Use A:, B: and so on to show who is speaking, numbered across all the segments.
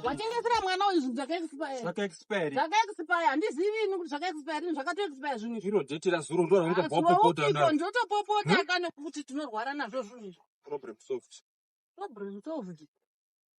A: watengesera mwana uyu zvinhu zvakaexpirezvakaexpire handizivi ini kuti zvakaexpire ini zvakatoexpire zvinhu iro deti razuro ndo
B: raungaopopota ndotopopota
A: hmm? ka nekuti tinorwara nazvo zvinhu izvi problem
B: solved problem solved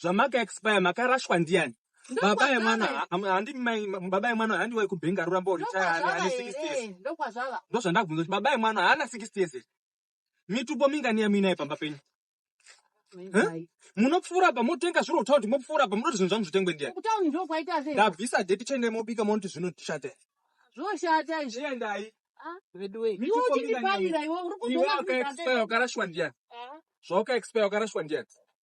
B: zvamaka expire makarashwa ndiyani baba yemwana handi baba yemwana handi wai kubhenga rurambo urichaane 60 years ndozvandakubvunza
A: kuti baba
B: yemwana haana 60 years here mitupo mingani yamuinaye pamba penyu munopfuura pa motenga zviro kutaura kuti mopfuura pa munoti zvinhu zvangu zvitengwe ndiyani
A: ndabvisa deti chende mobika
B: monoti zvinoshata zvoshata
A: izviendai
B: ah.
A: veduweukarashwa
B: ndiyani zvaukaexpire ukarashwa ndiyani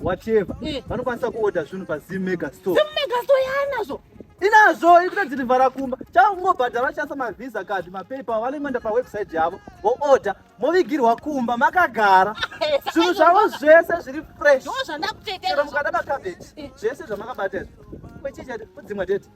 C: whatever eh. vanokwanisa kuorder zvinhu pazim mega store zim mega store yaanazvo
A: inazvo
C: ikuta dzinivhara kumba chakungobhadhara vachasa mavhisa kadhi mapepa vanoenda pawebsite yavo voorder movigirwa kumba makagara eh, zvinhu zvavo zvese zviri freshmukada
A: makabheti
C: eh. zvese zvamakabata izvo kwechicha kudzimwa tete